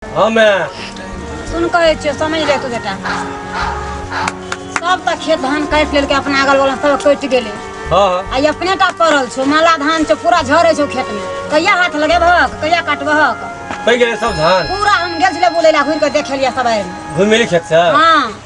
हाँ मैं सुन कहे छो समझ ले तू बेटा सब तक खेत धान काट लेलके अपना अगल बगल सब कट गेले हाँ हाँ आई अपने टा पड़ल छो माला धान छो पूरा झरे छो खेत में कहिया हाथ लगे भक कहिया काटबहक पै गेले सब धान पूरा हम गेल छले बोले ला घुर के देख लिया सब आयल घूम मिली खेत से हाँ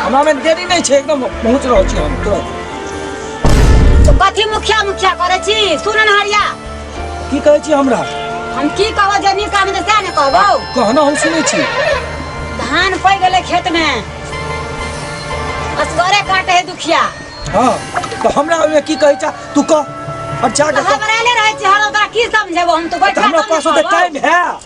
हमरा में देरी नहीं छे एकदम पहुंच रहो छी हम तुरंत तो कथी मुखिया मुखिया करे छी सुनन हरिया की कहे छी हमरा हम की कहबो जे नी काम से ने कहबो कहना हम सुने छी धान पै गेले खेत में असगरे काटे है दुखिया हां तो हमरा में की कहे छा तू कह और जा के हमरा ले रहे छी हर ओकरा की समझेबो हम तो बैठा हमरा पास तो टाइम है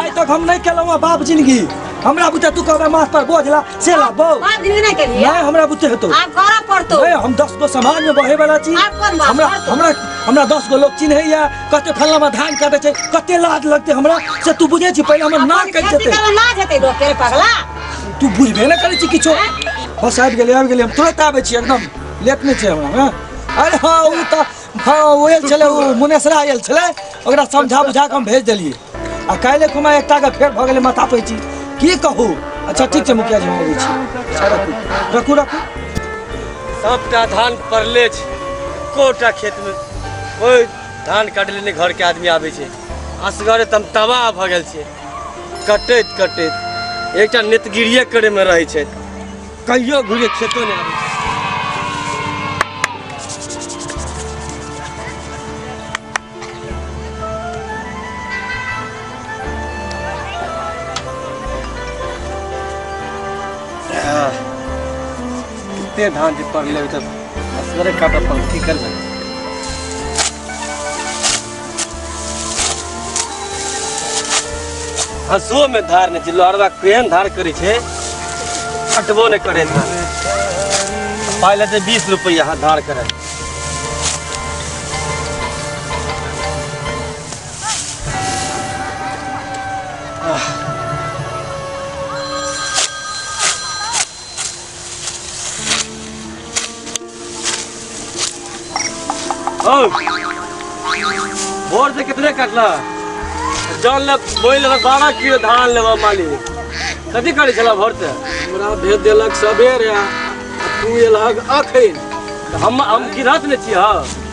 आइ तक हम नहि केलहुँ हँ बाप जिंदगी हमरा बुते तू कहबे माथ पर बोझ ला से ला बौ बाप जिंदगी नहीं के लिए नहीं हमरा बुते हेतौ आप करा पड़तो ए, हम दस गो समाज में बहे वाला छी आप कोन बात हमरा करतो? हमरा हमरा दस गो लोग चिन्हैया कते फल्ला में धान काटे छै कते लाज लगते हमरा से तू बुझे छी पहले हमर नाक कटि खेती जेतै करे ना जेते लोग के पगला तू बुझबे ना करै छी किछो बस आबि गेलै आबि गेलै हम तुरंत आबै छी एकदम लेट नहि छै हमरा हँ अरे हँ ओ तऽ हँ ओ आयल छलै ओ मुनेसरा आयल छलै ओकरा समझा बुझा कऽ हम भेज देलियै आ काल्हि खुमा एकटा के फेर भऽ गेलै माथा पैची की कहू अच्छा ठीक छै मुखिया जी हम अबै छी अच्छा, रखू रखू रखू सबटा धान पड़ले छै कोटा खेत में कोई धान काट लेने घर के आदमी आबे छै असगरे तम तबाह भऽ गेल छै कटैत कटैत एकटा नेतगिरिये करे में रहै छै कहियो घुरे खेतो ने आबै कते धान जे पड़लै तऽ असगरे काटऽ पड़ल की करबै हंसो में धार नहीं छै लहरवा केहन धार करे छै हटबो नहीं करे धार पाई लेते बीस रुपया हाँ धार करे और भोर से कितने कटला जान ले बोल ले बारह किलो धान लेबा मालिक कथी करै छला भोर से हमरा भेज देलक सबेरे आ तू एलहक अखन तऽ हम हम गिरहत ने छी हँ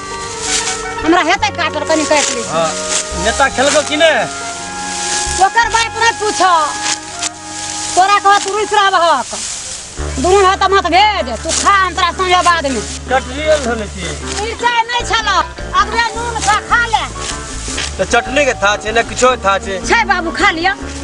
हमरा हेतै काटल कनी काटि लै हाँ नेता खेलको कि ने ओकर बात नहि पूछ तोरा कह तू रुस रहबहक दुनू हाथ माथ भेज तू खा हम तोरा समझ बाद में कटरियल होले छी मिरचाइ नहि छल अगले नून खा खा ले तो चटनी के था छे ना किछो था छे छै बाबू खा लिअ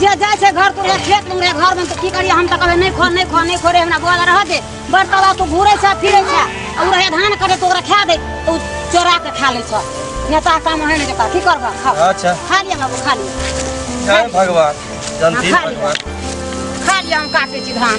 जे जाइ छै घर तोरे खेत मे रे घर मे त की करिए हम त कहबे नै खो नै खो नै खो रे हमरा गोदा रह दे बरतला तू घुरै छै फिरै छै आ उ रहे धान करे तो ओकरा खा दे तो चोरा के खा ले छै नेता काम है नै जेता की करबा खा अच्छा खा लिया बाबू खा लिया जय भगवान जल्दी हाँ, भगवान खा लिया हम काटे छी धान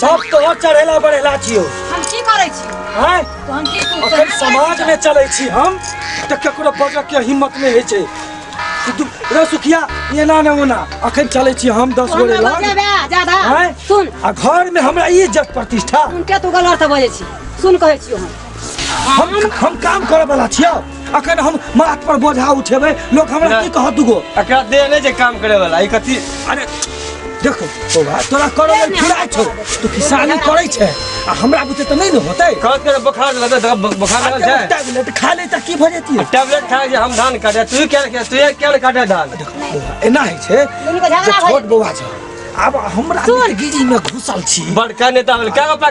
सब तोहर चढ़ेला बढ़ेला छियो हम की करै छी हैं तो हम की तू अखन समाज में चलै छी हम तऽ ककरो बजऽ के हिम्मत नहि होइ छै कि तू रे सुखिया एना ने ओना अखन चलै छी हम दस तू गोरे हमरा लग बजेबे ज्यादा हैं? सुन आ घर में हमरा ई इज्जत प्रतिष्ठा उनके तू गलत बजै छी सुन कहै छियो हम हम हम काम करे वाला छियो अखन हम माथ पर बोझा उठेबै लोग हमरा ना। की कहत दुगो एकरा दे नहि जे काम करे वाला ई कथी अरे देखो ओ भाई तोरा करे लेल फुराय छौ तू किसानी करे छै आ हमरा बुते त नहि ने होतै कहत करे बोखार लगा दे बोखार लगा छै टैबलेट खा ले त की भऽ जेती टैबलेट खा जे हम धान काटे तू क्या क्या तू क्या काटे धान एना होइ छै दुनू के झगड़ा जे भऽ छोट बौआ छ आब हमरा गिरी में घुसल छी बड़का नेता वाला क्या अपना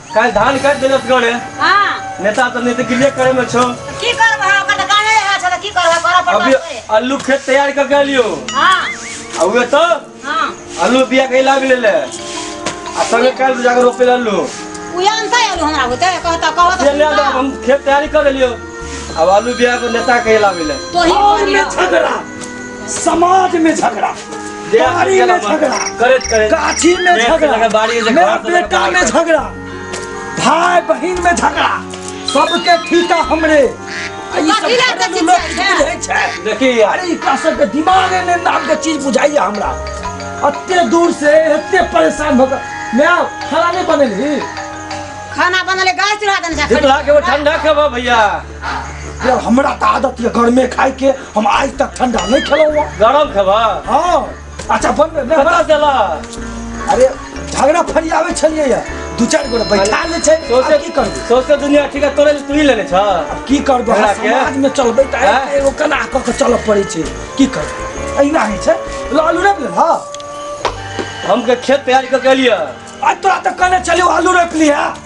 काल्हि धान काटि देलक गड़े हाँ नेता तऽ नेता गिरिये करे में छौ तो की करबो है ओकर तो गाने है अच्छा तो की करबो करब पर अभी करबे। आलू खेत तैयार कर के लियो हाँ आ उहे तो हाँ आलू बिया के लाग ले ले आ संगे काल्हि जाकर रोपे ले आलू उ जानता है आलू हमरा होते कहता कहता ये ले आलू अब हम खेत तैयारी कर लियो अब आलू बिया को नेता के लाग ले तो ही और में झगड़ा समाज में झगड़ा बाड़ी में झगड़ा करैत करैत गाछी में मेघ से लगा झगड़ा बाड़ी में मेरा झगड़ा, बेटा बाड़ी में में झगड़ा भाई बहन में झगड़ा सबके ठीका हमरे आ ई सब कथी लए घरेलू कथी लोक छै? की बुझै छै देखी यार अरे एकरा सबके दिमागे ने नाम के चीज बुझाइए हमरा अते दूर से एते परेशान भऽ कऽ मैं खाना नहीं बनेली खाना बनले गैस चढ़ा देने छै शीतला के वो ठंडा खबा भैया यार हमरा तऽ आदत यऽ गर्मे खाय के हम आज तक ठंडा नहीं खेलौं हूँ गरम खेबा हाँ अच्छा बन बे, मैं कतऽ गेला अरे झगड़ा फरियावे छलिए या दू चार गोरे बैठा ले छै सोचे आब की करबे सोचे दुनिया ठीक है तोरे तू ही लेने छ आब की करबे हमरा के? समाज में चलबे त हैं? एगो कला क के चलऽ पड़े छै की करबे अहिना होइ छै ल आलू रोपि ले हाँ हम के खेत तैयारी कर के लिए आज तोरा तऽ कहने छलियौ आलू रोपि लिहे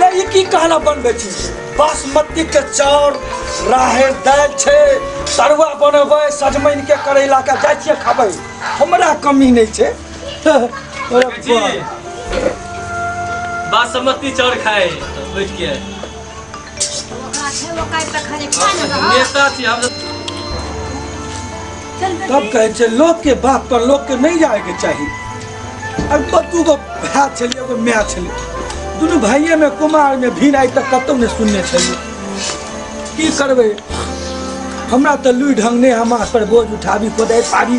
ले ई की कहला बनबै छी बासमती के चाउर राहड़ दालि छै तरुआ बनबै सजमनि के करैला के जाइ छियै खाबै हमरा कमी नहि छै अरे जी वाह। बासमती चाउर खाए बैठ के ओकरा छै ओकरा तऽ खाली पाइ ने रहत नेता छी हम सब तब कहै छै लोक के बात पर लोक के नहीं जाए के चाहिए अब तो तू को भाय छलिए एगो माय छलिए दुनू भाइये में कुमार में भीड़ आइ तक कतौ ने सुनने छलिए की करबै हमरा तऽ लुइ ढंग नहि हम पर बोझ उठाबी कोदारि पाबी